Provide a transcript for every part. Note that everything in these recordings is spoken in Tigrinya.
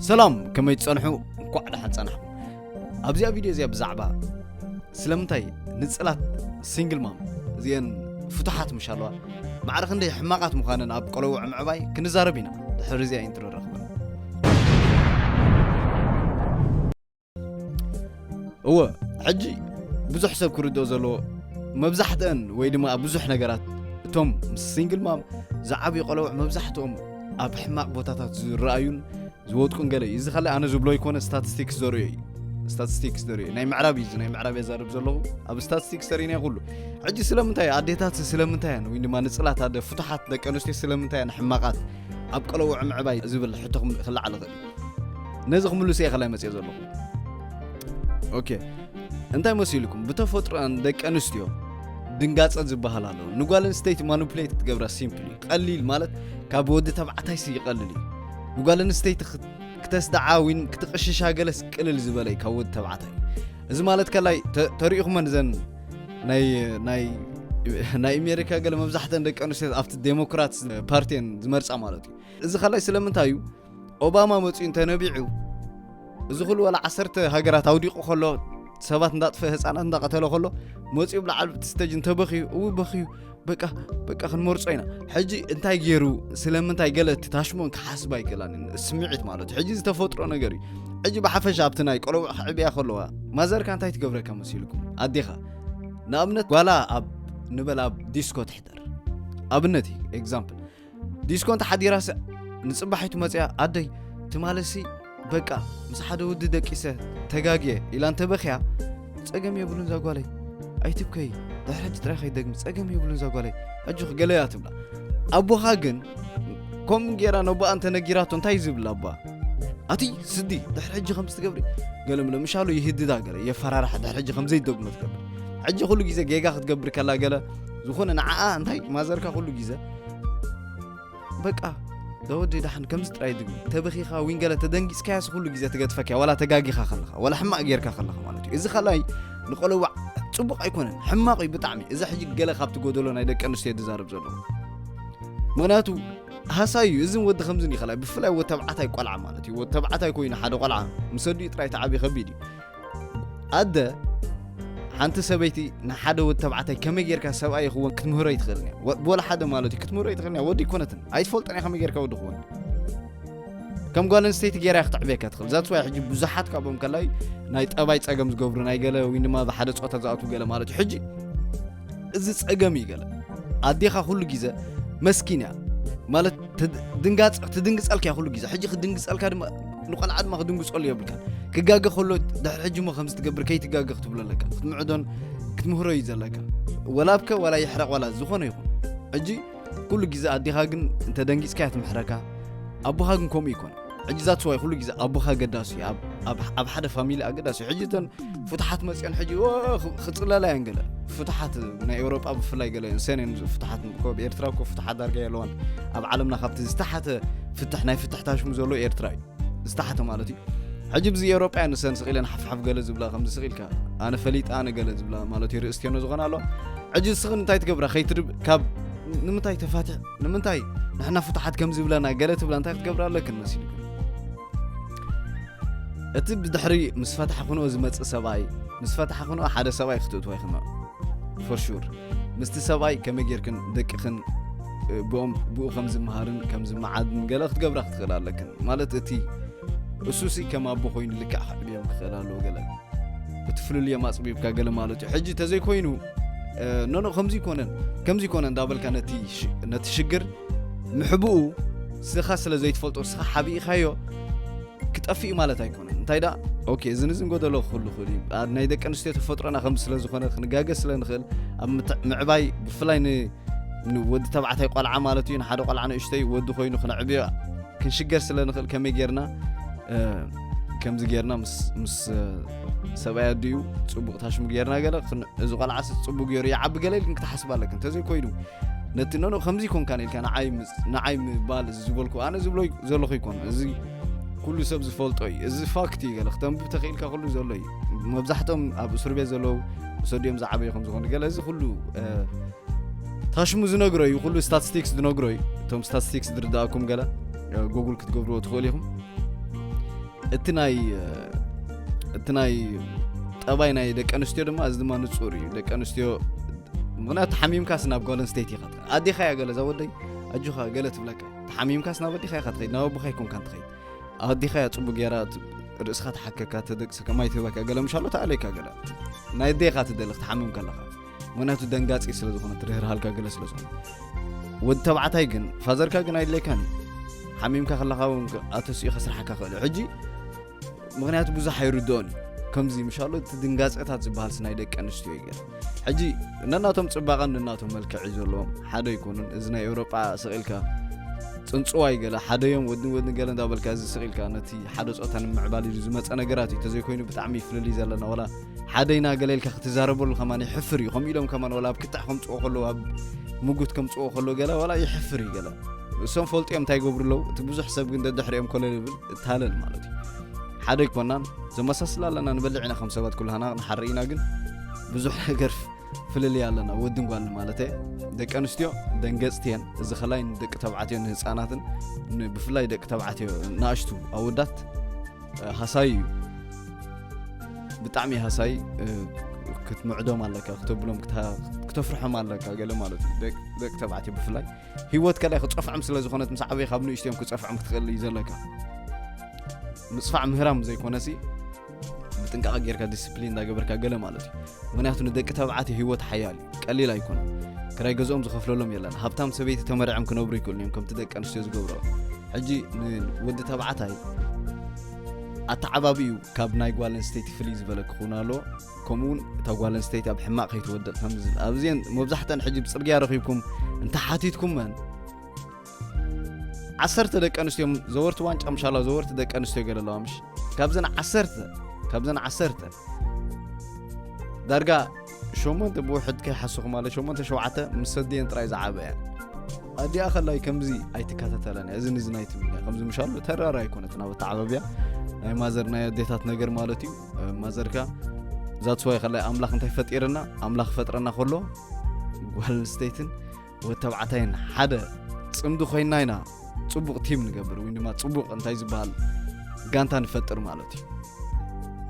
ሰላም ከመይ ትጸንሑ እንኳዕ ደሓን ጸናሕኩም ኣብዚኣ ቪድዮ እዚኣ ብዛዕባ ስለምንታይ ንጽላት ሲንግል ማም እዚአን ፍቱሓት ምሽ ኣለዋ ማዕረ ክንደይ ሕማቓት ምዃነን ኣብ ቆለውዕ ምዕባይ ክንዛረብ ኢና ድሕሪ እዚኣ ኢንትሮ ረኽበ እወ ሕጂ ብዙሕ ሰብ ክርድኦ ዘለዎ መብዛሕትአን ወይ ድማ ኣብ ብዙሕ ነገራት እቶም ምስ ሲንግል ማም ዝዓብዩ ቆለውዕ መብዛሕትኦም ኣብ ሕማቕ ቦታታት ዝረኣዩን ዝወድቁን ገለ እዩ እዚ ካልእ ኣነ ዝብሎ ይኮነ ስታቲስቲክስ ዘርእዮ እዩ ስታቲስቲክስ ዘርእዮ ናይ ምዕራብ እዩ ናይ ምዕራብ የዛርብ ዘለኹ ኣብ ስታቲስቲክስ ተርእና ኩሉ ሕጂ ስለምንታይ ኣዴታት ስለምንታይ እያን ወይ ድማ ንፅላት ኣደ ፍቱሓት ደቂ ኣንስትዮ ስለምንታይ እያን ሕማቓት ኣብ ቆለውዕ ምዕባይ ዝብል ሕቶ ክልዓል ይኽእል ነዚ ክምልስ እየ ከላይ መፅኦ ዘለኹ ኦኬ እንታይ መሲልኩም ብተፈጥሮን ደቂ ኣንስትዮ ድንጋፀ ዝበሃል ኣለዎ ንጓል ኣንስተይቲ ማኑፕሌት ክትገብራ ሲምፕል እዩ ቀሊል ማለት ካብ ወዲ ተባዕታይ ሲ ይቐልል እዩ ንጓል ኣንስተይቲ ክተስድዓ ዊን ክትቕሽሻ ገለስ ቅልል ዝበለ እዩ ካብ ወዲ ተባዕታይ እዚ ማለት ከላይ ተሪኢኹመን ዘን ናይ ኣሜሪካ ገለ መብዛሕተን ደቂ ኣንስትዮ ኣብቲ ዴሞክራት ፓርቲን ዝመርፃ ማለት እዩ እዚ ከላይ ስለምንታይ እዩ ኦባማ መጺኡ እንተ ነቢዑ እዚ ኩሉ ወላ ዓሰርተ ሃገራት ኣውዲቑ ከሎ ሰባት እንዳጥፈ ህፃናት እንዳቐተለ ከሎ መፂኡ ብላዓል ስተጅ እንተበኽዩ እው በኽዩ በቃ በቃ ክንመርፆ ኢና ሕጂ እንታይ ገይሩ ስለምንታይ ገለ እቲ ታሽሞን ክሓስብ ኣይክእላን ስምዒት ማለት እዩ ሕጂ ዝተፈጥሮ ነገር እዩ ሕጂ ብሓፈሻ ኣብቲ ናይ ቆለውዕ ክዕብያ ከለዋ ማዘርካ እንታይ ትገብረካ መሲልኩም ኣዴኻ ንኣብነት ጓላ ኣብ ንበል ኣብ ዲስኮ ትሕደር ኣብነት እዩ ኤግዛምፕል ዲስኮ እንተሓዲራስ ንፅባሒቱ መፅያ ኣደይ ትማለሲ በቃ ምስ ሓደ ወዲ ደቂሰ ተጋግየ ኢላ እንተበኽያ ፀገም የብሉን ዛጓለይ ኣይትብከይ ድሕሪ ሕጂ ጥራይ ከይደግሚ ፀገም የብሉን ዛጓለይ ኣጆኺ ገለ እያ ትብላ ኣቦኻ ግን ከምኡ ጌራ ነቦኣ እንተነጊራቶ እንታይ ዝብል ኣባ ኣቲ ስዲ ድሕሪ ሕጂ ከምዚ ትገብሪ ገለ ምለ ምሻሉ ይህድዳ ገለ የፈራርሓ ድሕሪ ሕጂ ከምዘይደግሞ ትገብር ሕጂ ኩሉ ግዜ ጌጋ ክትገብር ከላ ገለ ዝኾነ ንዓኣ እንታይ ማዘርካ ኩሉ ግዜ በቃ ዘወዲ ዳሓን ከምዚ ጥራይ ድግም ተበኺኻ ዊን ገለ ተደንጊጽካያስ ኩሉ ግዜ ትገድፈክያ ዋላ ተጋጊኻ ከለኻ ዋላ ሕማቅ ጌርካ ከለኻ ማለት እዩ እዚ ካልኣይ ንቆለዋዕ ጽቡቅ ኣይኮነን ሕማቅ እዩ ብጣዕሚ እዚ ሕጂ ገለ ካብቲ ጎደሎ ናይ ደቂ ኣንስትዮ ዝዛረብ ዘሎ ምክንያቱ ሃሳይ እዩ እዝን ወዲ ከምዝን ይኸላይ ብፍላይ ወተብዓታይ ቆልዓ ማለት እዩ ወተብዓታይ ኮይኑ ሓደ ቆልዓ ምሰዲኡ ጥራይ ተዓብዩ ከቢድ እዩ ኣደ ሓንቲ ሰበይቲ ንሓደ ወዲ ተባዕታይ ከመይ ጌርካ ሰብኣይ ይኽወን ክትምህሮ ኣይትኽእልን እያ ወላ ሓደ ማለት እዩ ክትምህሮ ኣይትኽእልን እያ ወዲ ይኮነትን ኣይትፈልጦን እያ ከመይ ጌርካ ወዲ ክወን ከም ጓል ኣንስተይቲ ጌራ ክትዕብየካ ትኽእል ዛት ዋይ ሕጂ ብዙሓት ካብኦም ከላይ ናይ ጠባይ ፀገም ዝገብሩ ናይ ገለ ወይ ድማ ብሓደ ፆታ ዝኣትዉ ገለ ማለት እዩ ሕጂ እዚ ጸገም እዩ ገለ ኣዴኻ ኩሉ ግዜ መስኪን እያ ማለት ድንጋጽ ትድንግጸልካ እያ ኩሉ ግዜ ሕጂ ክድንግጸልካ ድማ ንቆልዓ ድማ ክድንግጸሉ የብልካ ክጋገ ከሎ ድሕሪ ሕጂ እሞ ከምዚ ትገብር ከይትጋገ ክትብሎ ኣለካ ክትምዕዶን ክትምህሮ እዩ ዘለካ ወላብከ ዋላ ይሕረቕ ዋላ ዝኾነ ይኹን ሕጂ ኩሉ ግዜ ኣዴኻ ግን እንተ ደንጊጽካያ ትምሕረካ ኣቦኻ ግን ከምኡ ይኮን ሕጂ ዛት ስዋይ ኩሉ ግዜ ኣቦኻ ኣገዳሲ እዩ ኣብ ሓደ ፋሚሊ ኣገዳሲ እዩ ሕጂ እተን ፍትሓት መፅኦን ሕጂ ክፅለላ እየን ገለ ፍትሓት ናይ ኤውሮጳ ብፍላይ ገለ እንሰን እየን ፍትሓት ኮብ ኤርትራ እኮ ፍትሓት ዳርጋ የለዋን ኣብ ዓለምና ካብቲ ዝተሓተ ፍትሕ ናይ ፍትሕታሽሙ ዘሎ ኤርትራ እዩ ዝተሓተ ማለት እዩ ሕጂ ብዚ ኤውሮጳያ ንሰን ስቂለን ሓፍሓፍ ገለ ዝብላ ከምዚ ስቂልካ ኣነ ፈሊጥ ኣነ ገለ ዝብላ ማለት እዩ ርእስትዮኖ ዝኾነ ኣሎ ሕጂ ስኽን እንታይ ትገብራ ከይትርብ ካብ ንምንታይ ተፋትሕ ንምንታይ ንሕና ፍቱሓት ከም ዝብለና ገለ ትብላ እንታይ ክትገብራ ኣለክን መሲሉ እቲ ብድሕሪ ምስ ፈታሕ ክንኦ ዝመፅእ ሰብኣይ ምስ ፈታሕ ክንኦ ሓደ ሰብኣይ ክትእትዋ ይኽንኦ ፎር ሹር ምስቲ ሰብኣይ ከመይ ጌርክን ደቅኽን ብኦም ብኡ ከም ዝመሃርን ከም ዝመዓድን ገለ ክትገብራ ክትኽእል ኣለክን ማለት እቲ እሱሲ ከም ኣቦ ኮይኑ ልክዕ ክዕብዮም ክኽእል ኣለዎ ገለ እቲ ፍልልዮም ኣፅቢብካ ገለ ማለት እዩ ሕጂ ተዘይኮይኑ ኖኖ ከምዚ ይኮነን ከምዚ ይኮነ እንዳበልካ ነቲ ሽግር ምሕብኡ ስኻ ስለ ዘይትፈልጦ ስኻ ሓቢኢኻዮ ክጠፍእ ማለት ኣይኮነ እንታይ ደኣ ኦኬ እዚ ንዝንጎ ዘሎ ክህሉ ክእል እዩ ናይ ደቂ ኣንስትዮ ተፈጥሮና ከም ስለ ዝኾነ ክንጋገ ስለ ንኽእል ኣብ ምዕባይ ብፍላይ ንወዲ ተባዕታይ ቆልዓ ማለት እዩ ንሓደ ቆልዓ ንእሽተይ ወዲ ኮይኑ ክነዕብዮ ክንሽገር ስለ ንኽእል ከመይ ጌርና ከምዚ ጌርና ምስ ሰብኣይ ኣዲኡ ፅቡቕ ታሽሙ ጌርና ገለ እዚ ቆልዓ ፅቡቅ ገይሩ ይዓቢ ገለ ኢልክን ክትሓስብ ኣለክን እንተዘይኮይኑ ነቲ ኖኖ ከምዚ ኮንካ ኢልካ ንዓይ ምባል እዚ ዝበልኩ ኣነ ዝብሎ ዘለኹ ይኮን እዚ ኩሉ ሰብ ዝፈልጦ እዩ እዚ ፋክት እዩ ገለ ክተንብብ ተኽኢልካ ኩሉ ዘሎ እዩ መብዛሕቶም ኣብ እስር ቤት ዘለዉ ሰዲኦም ዝዓበዩ ከም ዝኾኑ ገለ እዚ ኩሉ ታሽሙ ዝነግሮ እዩ ኩሉ ስታቲስቲክስ ዝነግሮ እዩ እቶም ስታቲስቲክስ ዝርዳእኩም ገለ ጉግል ክትገብርዎ ትኽእሉ ኢኹም እቲ ናይ እቲ ናይ ጠባይ ናይ ደቂ ኣንስትዮ ድማ እዚ ድማ ንፁር እዩ ደቂ ኣንስትዮ ምክንያቱ ተሓሚምካስ ናብ ጓል ኣንስተይቲ ኢኻ ትኸይድ ኣዴኻ እያ ገለ እዛ ወደይ ኣጆኻ ገለ ትብለካ ተሓሚምካስ ናብ ኣዴኻ ኢኻ ትኸይድ ናብ ኣቦኻ ይኮንካን ትኸይድ ኣዴኻ እያ ፅቡቅ ገይራ ርእስኻ ተሓከካ ተደቅሰካ ማይ ትህበካ ገለ ምሻሎ ተኣለካ ገለ ናይ ኣዴኻ ትደሊ ክትሓምም ከለኻ ምክንያቱ ደንጋፂ ስለ ዝኾነ ትርህርሃልካ ገለ ስለ ዝኾነ ወዲ ተባዕታይ ግን ፋዘርካ ግን ኣይድለይካን እዩ ሓሚምካ ከለካ እውን ኣተስኡ ከስርሓካ ክእል እዩ ሕጂ ምክንያቱ ብዙሕ ኣይርድኦን እዩ ከምዚ ምሻሎ እቲ ድንጋፀታት ዝበሃል ስናይ ደቂ ኣንስትዮ እዩ ገር ሕጂ ነናቶም ፅባቐን ነናቶም መልክዕ እዩ ዘለዎም ሓደ ኣይኮኑን እዚ ናይ ኤውሮጳ ስቕኢልካ ፅንፅዋይ ገለ ሓደ እዮም ወድን ወድን ገለ እንዳበልካ እዚ ስቕኢልካ ነቲ ሓደ ፆታ ንምዕባል ኢሉ ዝመፀ ነገራት እዩ ተዘይኮይኑ ብጣዕሚ ፍልልይ ዘለና ወላ ሓደ ኢና ገለ ኢልካ ክትዛረበሉ ከማን ይሕፍር እዩ ከምኡ ኢሎም ከማን ወላ ኣብ ክታዕ ከምፅኦ ከለዉ ኣብ ምጉት ከምፅኦ ከሎ ገለ ዋላ ይሕፍር እዩ ገለ እሶም ፈልጡ እዮም እንታይ ይገብሩ ኣለዉ እቲ ብዙሕ ሰብ ግን ደድሕሪኦም ኮለል ይብል እታለል ማለት እዩ ሓደ ኣይኮናን ዘመሳስል ኣለና ንበልዕ ኢና ከም ሰባት ኩላና ንሓር ኢና ግን ብዙሕ ነገር ፍልልይ ኣለና ወድን ጓል ማለት ደቂ ኣንስትዮ ደንገፅቲ እየን እዚ ከላይ ንደቂ ተባዕትዮ ንህፃናትን ብፍላይ ደቂ ተባዕትዮ ንኣሽቱ ኣወዳት ሃሳይ እዩ ብጣዕሚ ሃሳይ ክትምዕዶም ኣለካ ክተብሎም ክተፍርሖም ኣለካ ገለ ማለት እዩ ደቂ ተባዕትዮ ብፍላይ ሂወት ከላይ ክፀፍዖም ስለ ዝኾነት ምስ ዓበይ ካብ ንእሽትዮም ክፀፍዖም ክትኽእል እዩ ዘለካ ምፅፋዕ ምህራም ዘይኮነሲ ብጥንቃቐ ጌርካ ዲስፕሊን እንዳገበርካ ገለ ማለት እዩ ምክንያቱ ንደቂ ተባዕትዮ ሂወት ሓያል ቀሊል ኣይኮነን ክራይ ገዝኦም ዝኸፍለሎም የለን ሃብታም ሰበይቲ ተመርዕም ክነብሩ ይክእሉ እዮም ከምቲ ደቂ ኣንስትዮ ዝገብረኦ ሕጂ ንወዲ ተባዕታይ ኣተዓባቢኡ ካብ ናይ ጓል ኣንስተይቲ ፍልይ ዝበለ ክኸውን ኣሎ ከምኡውን እታ ጓል ኣንስተይቲ ኣብ ሕማቕ ከይትወድቕ ከምዝብል ኣብዚን መብዛሕተን ሕጂ ብፅርግያ ረኺብኩም እንተሓቲትኩመን ዓሰርተ ደቂ ኣንስትዮ ዘወርቲ ዋንጫ ምሻላ ዘወርቲ ደቂ ኣንስትዮ ገለ ኣለዋ ምሽ ካብዘን ዓሰርተ ካብዘን ዓሰርተ ዳርጋ ሸሞንተ ብውሕድ ከይሓስኹ ማለት ሸሞንተ ሸውዓተ ምስ ሰድየን ጥራይ ዝዓበያ ኣዲኣ ከላይ ከምዚ ኣይትከታተለን እያ እዚ ንዚ ናይ ትብል እያ ከምዚ ምሻሉ ተራራ ኣይኮነት ናብ ኣተዓባብያ ናይ ማዘር ናይ ኣዴታት ነገር ማለት እዩ ማዘርካ ዛትስዋይ ከላይ ኣምላኽ እንታይ ፈጢርና ኣምላኽ ፈጥረና ከሎ ጓል ኣንስተይትን ወድ ተባዕታይን ሓደ ፅምዲ ኮይና ኢና ፅቡቕ ቲም ንገብር ወይ ድማ ፅቡቕ እንታይ ዝበሃል ጋንታ ንፈጥር ማለት እዩ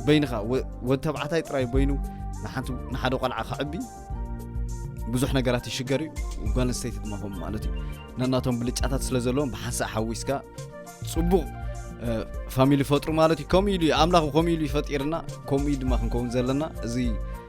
በይንኻ ወድ ተባዕታይ ጥራይ በይኑ ንሓደ ቆልዓ ከዕቢ ብዙሕ ነገራት ይሽገር እዩ ጓል ኣንስተይቲ ድማ ከምኡ ማለት እዩ ነናቶም ብልጫታት ስለ ዘለዎም ብሓንሳእ ሓዊስካ ፅቡቕ ፋሚሊ ፈጥሩ ማለት እዩ ከምኡ ኢሉ ኣምላኽ ከምኡ ኢሉ ይፈጢርና ከምኡ ድማ ክንከውን ዘለና እዚ